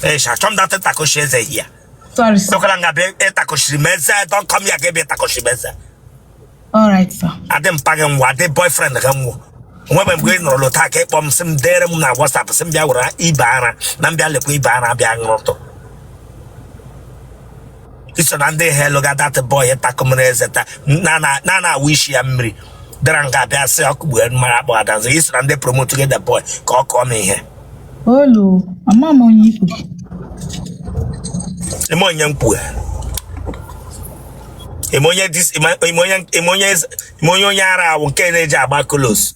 Eish, achọ m that ịtakoshi eze here Sorry, sir. ekwela nga bịa ịtakoshiri m eze don't come here ga ebe ịtakoshi m eze All right, sir. adị mpa gị nwa adị boyfriend gị nwa onwebe mgbe ị nọrọ lota ka ịkpọ m sị m dere m na whatsapp sị m bịa were ibe ara na m bịa lekwa ibe ara bịa ṅụrụtụ i so na ndị helpụga that boy takụmere eze taa na na na na awụ isi ya mmiri dara nga abịa sị ọkụ gbue mara akpọ adanze i so na ndị promote gị the boy ka ọ kọọ m ihe Hello, ama m onye ikwu. eme onye mkpue eme onye dis- eme- eme onye eme onye eze- eme onye onye ara awụ nke na-eji agba kolos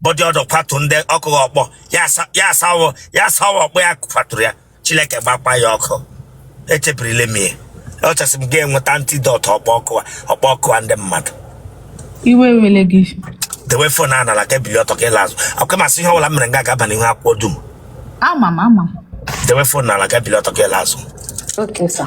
body odour kwatu ndị ọkụ gị ọkpọ ya asa- ya asawo ya asawo ọkpọ ya kwaturu ya chineke gbakwa ya ọkụ echebirila m ya ọchasị m ga-enweta antidote ọkpọ ọkụ a- ọkpọ ọkụ a ndị mmadụ iwe wele gị dewe phone a n'ala ka i bili ọtọ ka ịla azụ akwụkwọ masị ihe ọbụla m mere nga ga-aba n'ihu akwụkwọ dum ama m ama m dewe phone n'ala ka i bili ọtọ ka ịla azụ Okay, sir.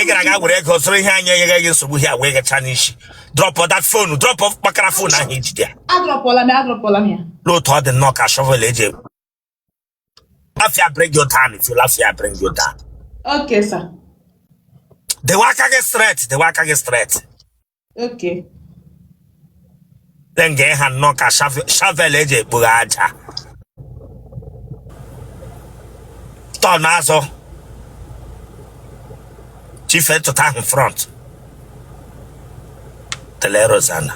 ị gara aga were ego zụrụ ihe anyị enyeghị gị nsogbu ya wee gacha n'isi drọpụ that phone drọpụ kpakara phone ahụ i jide ya adrọpụla m ya adrọpụla m ya lee otu ọ dị nnọọ ka shovel eji if you laugh I bring you down if you laugh I bring you down okay sir dewe aka gị straight dewe aka gị straight okay then gị ha nnọọ ka shove- shovel eji ekpoga aja turn azụ chief tụta ahụ front tele rozana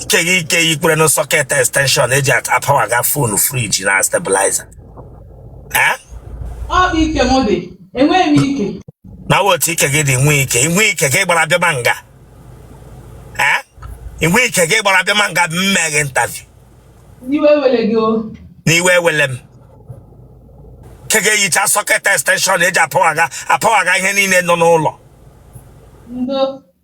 ike gị ike gị kwere na socket extension eji apawaga phone fridge na stabilizer eh? ọ bụ ike m dị enweghị m ike na otu ike gị dị nwe ike inwe ike gị gbara abịa ma nga ee inwe ike gị gbara abịa ma nga m megha interview iwe wele gị o n'iwe ewele m ike gị eyicha socket extension eji apawaga apawaga ihe niile nọ n'ụlọ ndo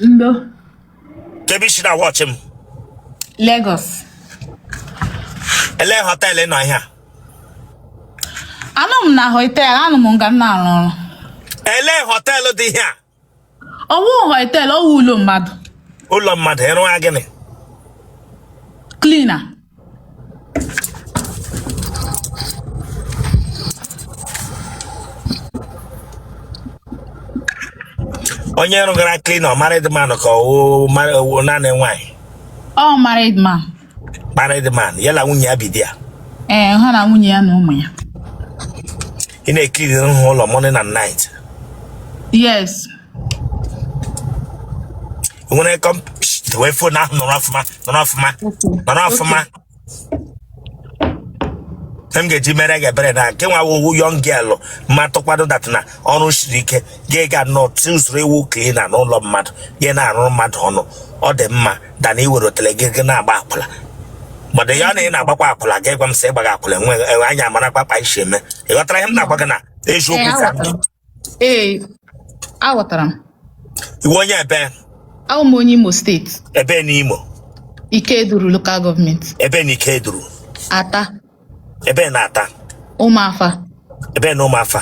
Ndo. Kebe i si na-watch m? Lagos. Ele hotel ị nọ ihe a? Anọ m na hotel, anọ m nga m na-arụ ọrụ. Ele hotel dị ihe a? Ọ wụ hotel, ọ wụ ụlọ mmadụ. Ụlọ mmadụ ị rụga gịnị? Cleaner. onye ị rụgara cleaner married man ka ọ wụ naanị nwaanyị ọ married man married man ya na nwunye ya bi there ee ha na nwunye ya na ụmụ ya ị na-eclean ụlọ morning and night yes nwere kọm wee fo na ahụ nọrọ ọfụma nọrọ ọfụma nọrọ ọfụma Ihe m ga-eji mere gị ebere na nke nwa ị wụ young girl ma tụkwado that na ọrụ siri ike gị ga nọ chuzuru ị wụ cleaner n'ụlọ mmadụ gị na-arụrụ mmadụ ọrụ ọ dị mma than na i were otele gị gị na-agba akwụla gbado ya na ị na-agbakwa akwụla gị gwa m sị ịgbaghị akwụla enweghị enwe anya amarakwa kpa i si eme ị ghọtara ihe m na-agwa gị na eziokwu ka m dị. Ee, aghọtara m. ị wụ onye ebee Awụ m onye Imo steeti, ebee n'Imo Ikeduru Local Government, ebee na Ikeduru Atta, ebee na Atta Ụmụafa, ebee na Ụmụafa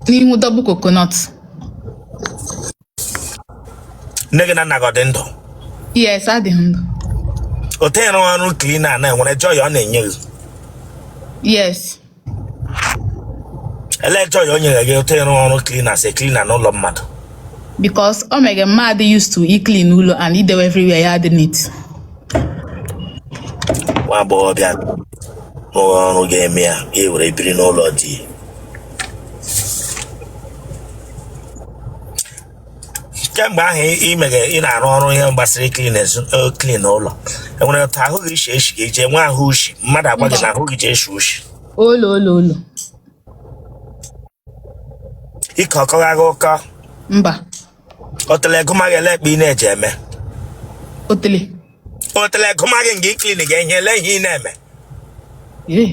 n'ihu Double Coconut. nne gị na nna gị ọ dị ndụ yes ha dị ndụ o tenyere ọrụ cleaner na e nwere joy ọ na-enye gị yes ele joy o nyere gị o tenyere ọrụ cleaner as cleaner n'ụlọ mmadụ because o mega mmadụ used to iclean ụlọ and idewe everywhere ya dị neat nwa agbọghọbịa rụrụ ọrụ ga-eme ya ya were biri n'ụlọ di kemgbe ahụ ị mere ị na-arụ ọrụ ihe gbasara cleaners clean ụlọ e nwere otu ahụ gị ishi eshi ga-eji enwe ahụ ushi mmadụ agwa gị na ahụ gị ji eshi ushi olo olo olo ike ọ kọga gị ọkọ mba otele gị amaghị ele kpa ị na-eji eme otele otele gị amaghị nke iclean ga-enye ele ihe ị na-eme ee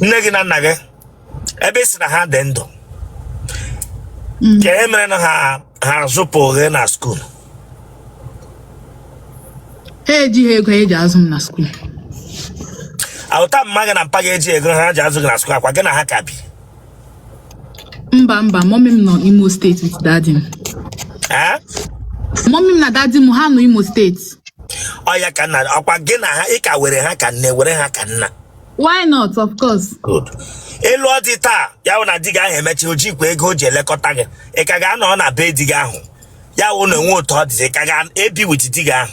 nne gị na nna gị ebe ị sị na ha dị ndụ kee mere na ha azụpụ gị na skuul ha ejighị ego eji azụ m na skuul a wụ ta mma gị na mpa gị ejighị ego ha ji azụ gị na skuul ọkwa gị na ha ka bi mba mba mommy m nọ Imo steeti with daddy m ee mommy m na daddy m ha nọ Imo steeti ọya ka nna ọkwa gị na ha ị ka were ha ka nne were ha ka nna why not of course good elu ọ dị taa ya wụ na di gị ahụ emechaa o jikwa ego o ji elekọta gị ị ka ga-anọ na be di gị ahụ ya wụ na o nwe otu ọ dịzi ị ka ga-ebi with di gị ahụ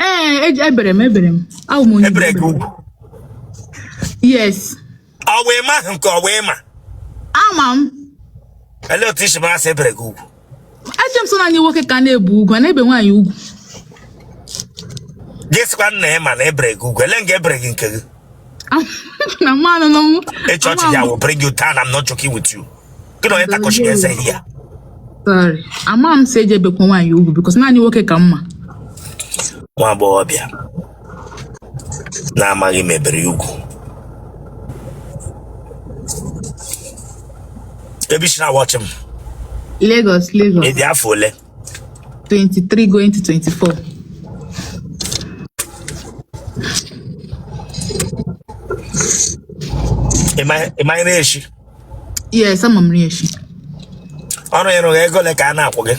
Ee, eji- e bere m e bere m. Awụ m onye Igbo. e bere gị ugwu Yes. ọ wụ ị ma ahụ nke ọ wụ ị ma Ama m. ele otu i si mara sị e bere gị ugwu Eche m sọ naanị nwoke ka a na-ebe ugwu, a na-ebe nwaanyị ugwu. gị sịkwa na ị ma na e bere gị ugwu ele nga e bere gị nke gị Am- na mmanụ n'ọnwụ. ịchọọchị Ama m. I will bring you down I'm not joking with you gị na onye takọchiri eze ihe ya Sorry. Ama m si e ji ebekwa nwaanyị ugwu because naanị nwoke ka m ma. nwa agbọghọ bịa na amaghị m e bere ya ugwu ebe i si na-awatch m Lagos, Lagos. ị dị afọ ole 23 going to 24. ị ma ị ma nri eshi yes ama m nri eshi ọrụ ị rụgha ego ole ka a na-akwụ gị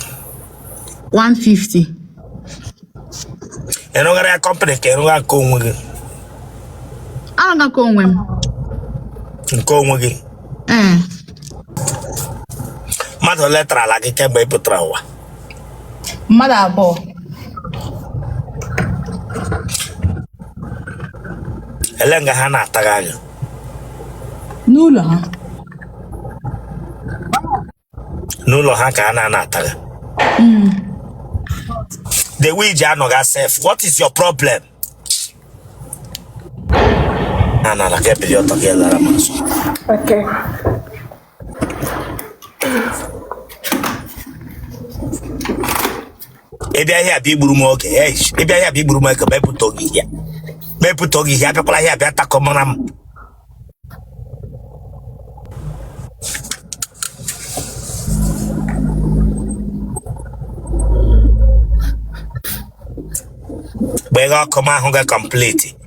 150 ị rụghara ya company ka ị rụgha nke onwe gị arụga nke onwe m nke onwe gị ee mmadụ ole tara ala gị kemgbe ị pụtara ụwa mmadụ abụọ elee nga ha na-ata gị anya n'ụlọ ha n'ụlọ ha ka ha na-anọ ata gị hmm. the way i ji anọgha sef what is your problem anara ka bilie ọtọ gị lara m nso ị bịa ihe a bịa igburu m oge ị bịa ihe a bịa igburu m oge mepụta oge ihe mepụta oge ihe abịakwala ihe a bịa takọ mara m gbeghe ọkụ m ahụ ga complete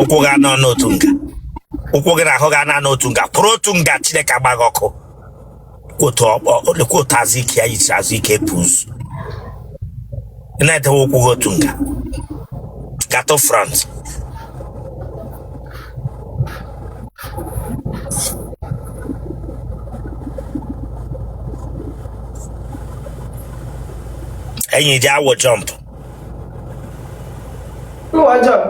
ụkwụ gị anọ n'otu nga ụkwụ gị na ahụ gị anọ n'otu nga kwụrụ otu nga chineke agba gị ọkụ kwụ ọtọ ọkpọ kwụ ọtọ azụ ike ya yisi azụ ike pụzụ ị na-edewe ụkwụ gị otu nga gaa to front enyi i ji awọ jump wọọ jump.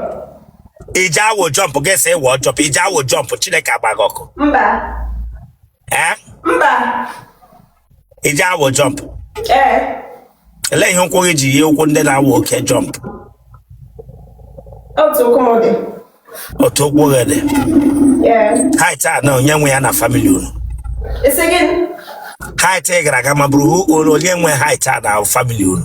i ji awọ jump gị sị ị wọ jump i ji awọ jump chineke agba gị ọkụ Mba. ee Mba. i ji awọ jump ee elee ihe ụkwụ gị ji yie ụkwụ ndị na-awọ oke jump otu ụkwụ m dị otu ụkwụ gị dị ee height a na onye nwe ya na family unu ị sị gị height ị gara aga ma bụrụ onye nwe height a na family unu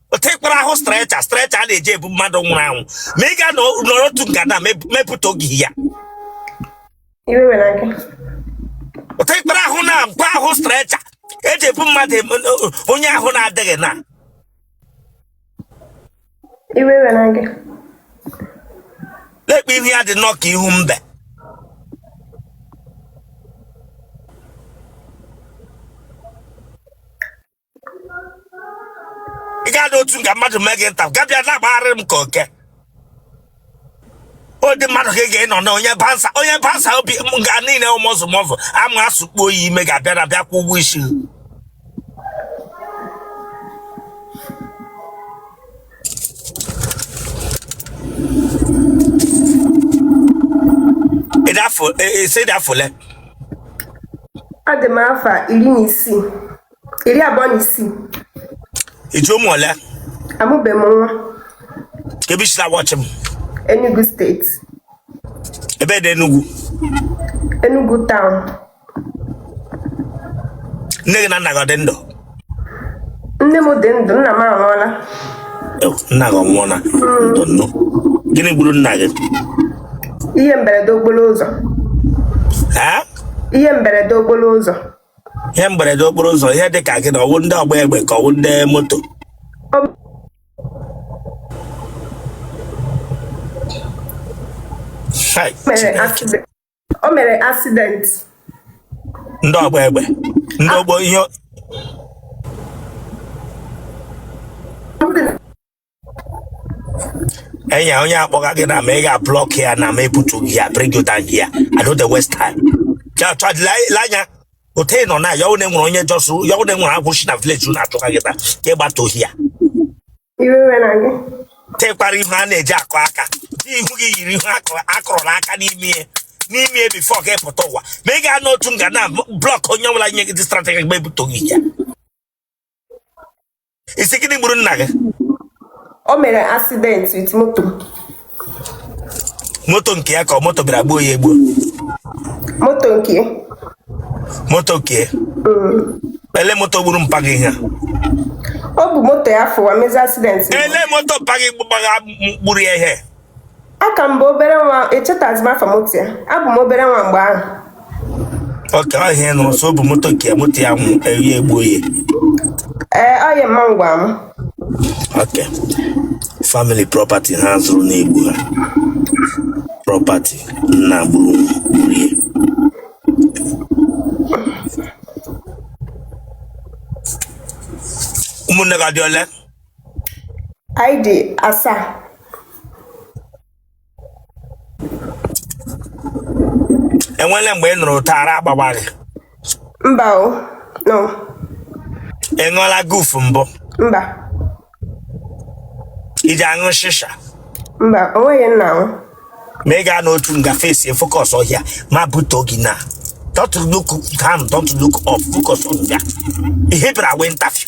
tekwara ahụ stretcher stretcher a na-eji ebu mmadụ nwụrụ anwụ ma ị ga-anọrọ otu nga na-emepụta oge ya tekwara ahụ na mkpa ahụ stretcher e ji ebu mmadụ onye ahụ na-adịghị na lekwa ihu ya dị nnọọ ka ihu mbe ị ga-anọ otu nga mmadụ mee gị nta gabịa na-agbagharị m ka oke ụdị mmadụ ka ị ga-anọ na onye bansa onye bansa obi m ga niile ụmụzụ mọzụ ama asụkpo oyi ime ga-abịa na bịa kwụ ụgwọ isi ị dị afọ ole ọ dị m afọ iri na isii iri abụọ na isii i ji ụmụ ole amụbeghị m nwa ebe i si na-awatch m Enugu state ebe dị Enugu Enugu town nne gị na nna gị ọ dị ndụ nne m dị ndụ nna m anwụọla Ew, nna gị ọ nwụọla ndo nnọọ gịnị gburu nna gị ihe mberede okporo ụzọ Ee? ihe mberede okporo ụzọ ihe mberede okporo ụzọ ihe dị ka gịnị ọ wụ ndị ọgba egbe ka ọ wụ ndị moto Hai, mere accident o mere accident ndị ọgba egbe ndị ogbo ihe enyi onye akpọga gị na ma ị ga-ablock ya na ma ebutu gị ya bring you down here I no dey waste time Ja- twa- le- le anya otu ị nọ na ya one nwere onye jọsụ ya one nwere agwụchi na village unu achọga gị taa ka ị gbata ohi ya Iwe iwe na gị. tekwara ihu a na-eji akụ aka dị ihu gị yiri ihu akụrụ- akụrụla aka n'ime ya n'ime ya before ka ị pụta ụwa ma ị ga-anọ otu nga na-ablock onye ọbụla nye gị dị strategy gba ebutoghị ya ị sị gịnị gburu nna gị o mere accident with moto moto nke ya ka ọ moto bịara gbuo ya egbu moto nke ya. moto nke ya. elee moto gburu mpa gị ihe a? ọ bụ moto ya fụwa mezi accident elee moto mpa gị gbara- gburu ya ihe aka m bụ obere nwa echetazi m afa moto ya abụ m obere nwa mgbe ahụ okay ihe ị nụrụ sọ bụ moto nke moto ya nwụ eri egbuo ya ee ọ ya mma ngwa m ok family property ha zụrụ na-egbu ha property nna gburu gburu ya ụmụnne gị ha dị ole anyị dị asaa enwele mgbe ị nọrọ taa ara agbawa gị mba o no ị ṅụọla guf mbụ mba i ji aṅụ shisha mba o nweghị nna ahụ ma ị gaa n'otu nga face focus ọhịa ma bute gị na don't look down don't look up focus on ya ị hibra wee ntafio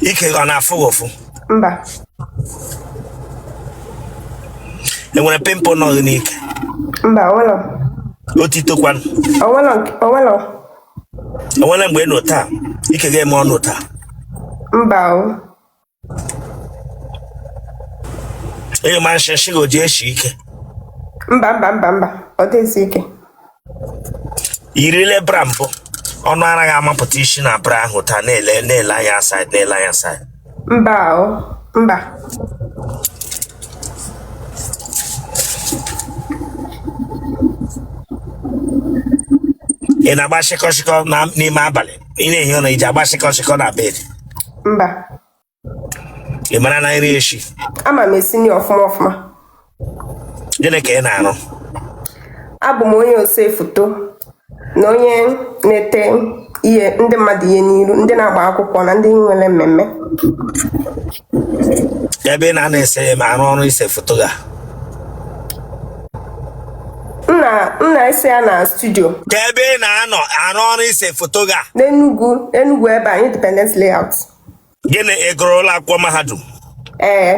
ike gị ọ na-afụ gị ụfụ mba enwere pimple nọ gị n'ike mba onwelọ otito kwanụ onwelọ nke- onwelọ enwere mgbe ị nọ taa ike ga-eme ọnụ taa mba o ị nyụma nshị gị o ji eshi ike mba mba mba mba ọ dịghị esi ike i yirile bra mbụ ọnụ ara gị amapụta isi na bra ahụ taa na-ele na-ele anya side na-ele anya side mba o mba ị na-agba shịkọshịkọ na- n'ime abalị ị na-ehi ụra i ji agba shịkọ shịkọ na bed mba ị marana nri eshi ama m esi nri ọfụma ọfụma gịnị ka ị na-arụ abụ m onye ose foto na onye na-ete ihe ndị mmadụ ihe n'iru ndị na-agba akwụkwọ na ndị nwere mmemme ebe ị na-anọ ese ma arụ ọrụ ise foto ga m na m na-ese ya na studio ka ebe ị na-anọ arụ ọrụ ise foto ga n'enugwu enugwu ebe a independence layout gịnị ị gụrụ ụlọ akwụkwọ mahadum ee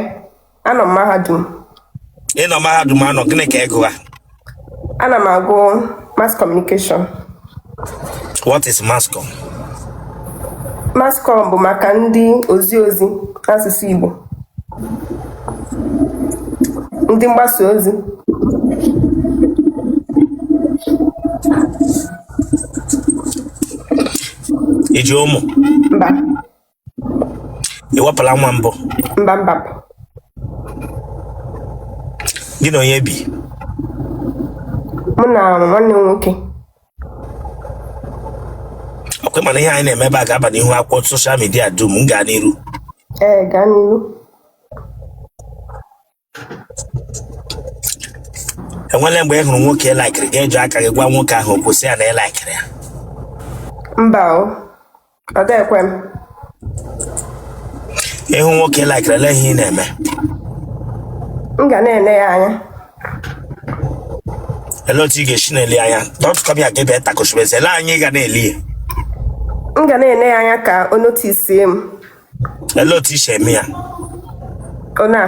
anọ m mahadum ị nọ mahadum anọ gịnị ka ị gụwa Ana m agụ mass communication. What is mass com? Mass com bụ maka ndị ozi ozi n'asụsụ Igbo. Ndị mgbasa ozi. I ji ụmụ. Mba. i wepụla nwa mbụ mba mba mba. gị na onye bi mụ na nwanne m nwoke ọkwa ị ma na ihe anyị na-eme ebe a ga-aba n'ihu akwụkwọ soshal midia dum m gaa n'iru ee gaa n'iru enwele mgbe ị hụrụ nwoke ị laikiri gị eji aka gị gwa nwoke ahụ okwu sị ya na ị laikiri ya mba o ọ dịghị ekwe m ị hụ nwoke ị laikiri ele ihe ị na-eme m ga na-ele ya anya ele otu ị ga-esi na-ele ya anya don't come here gebe takụchibezi ele anya ị ga na-ele ya m ga na-ele ya anya ka o notisie m ele otu i si eme ya ona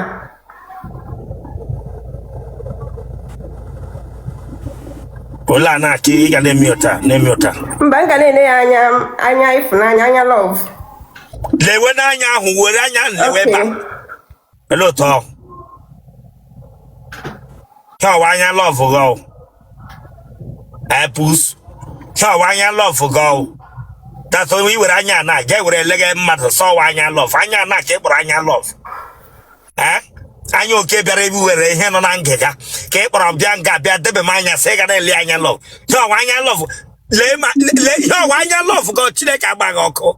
ole a na-aka ị ga na-eme ụta na-eme ụta mba m ga na-ele ya anya anya ịfụnanya anya love lewe n'anya ahụ were anya ahụ lewe ebe a ele otu ọ ihe ọwa anya love gị ọ epus ihe ọwa anya love gị ọ tatụ i were anya na ga ewere eleghe mmadụ sọwa anya love anya na ka ị kpọrọ anya love ee anya oke bịara ebe were ihe nọ na ngịga ka ị kpọrọ bịa nga bịa debe m anya sị ị ga na-ele anya love ihe ọwa anya love lee ma lee ihe ọwa anya love gị Chineke agba gị ọkụ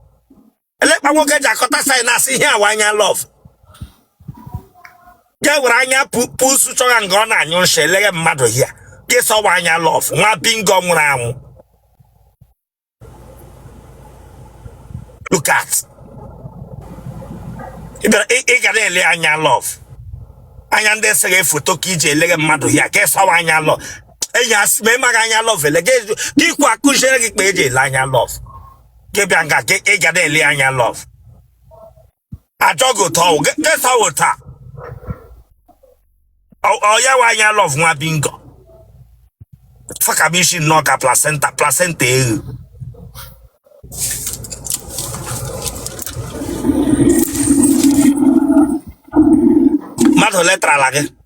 ele kpa nwoke ji akọta sign asị ihe awa anya love ga were anya pu- pusu chọga nga ọ na-anyụ nsị eleghe mmadụ ya gị sọwa anya love nwa bingo nwụrụ anwụ look at ị bịara- ị ị ga na-ele anya love anya ndị eseghe foto ka iji eleghe mmadụ ya ka ị sọwa anya love enyi asị ma ị maghị anya love ele gị kwuo akụziere gị kpa eji ele anya love gị bịa nga gị ị ga na-ele anya love ajụọ gị otu ọwụ gị gị sọwa ụta ọya wa anya love nwa bingo fakamishi nnọọ ka placenta placenta eghe mmadụ ole tarala gị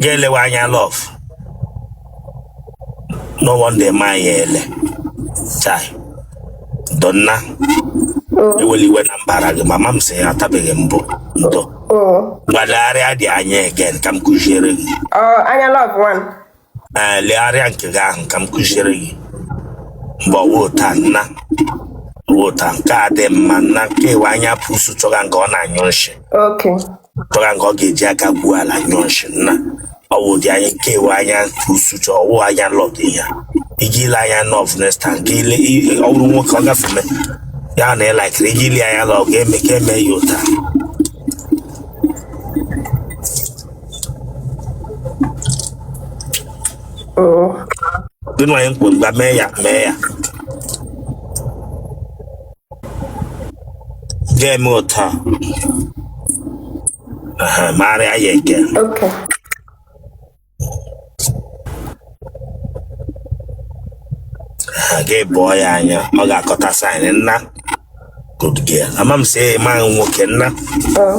ga-elewe anya love no wonder ma ya ele chai ndo nna ewele iwe na m baara gị mba ama m sị ya atabeghị mbụ ndo bịa legharịa dị anya again ka m kụziere gị anya love ngwanụ ee legharịa nke gị ahụ ka m kụziere gị mgbe ọwa ụta nna ụta nke a dị mma nna nke iwe anya pusu chọga nga ọ na-anyụ nshị chọga nga ọ ga-eji aka gbuo ala nyụọ nshi nna ọ wụ ụdị anya nke iwe anya pusu chọ ọwụ anya love ihe ị ga-ele anya love next time ka ị le i- ọ bụrụ nwoke ọ gafeme ya na ị laikiri ị ga-ele anya love ga-eme ka eme ya ụta Oh, dị nwanyị mkpụrụ gba mee ya mee ya ga-eme ụta Aha, marịa ya again Okay. ha ga-ebụọ ya anya ọ ga-akọta sign nna good girl ama m sị ị mahụ nwoke nna Oh.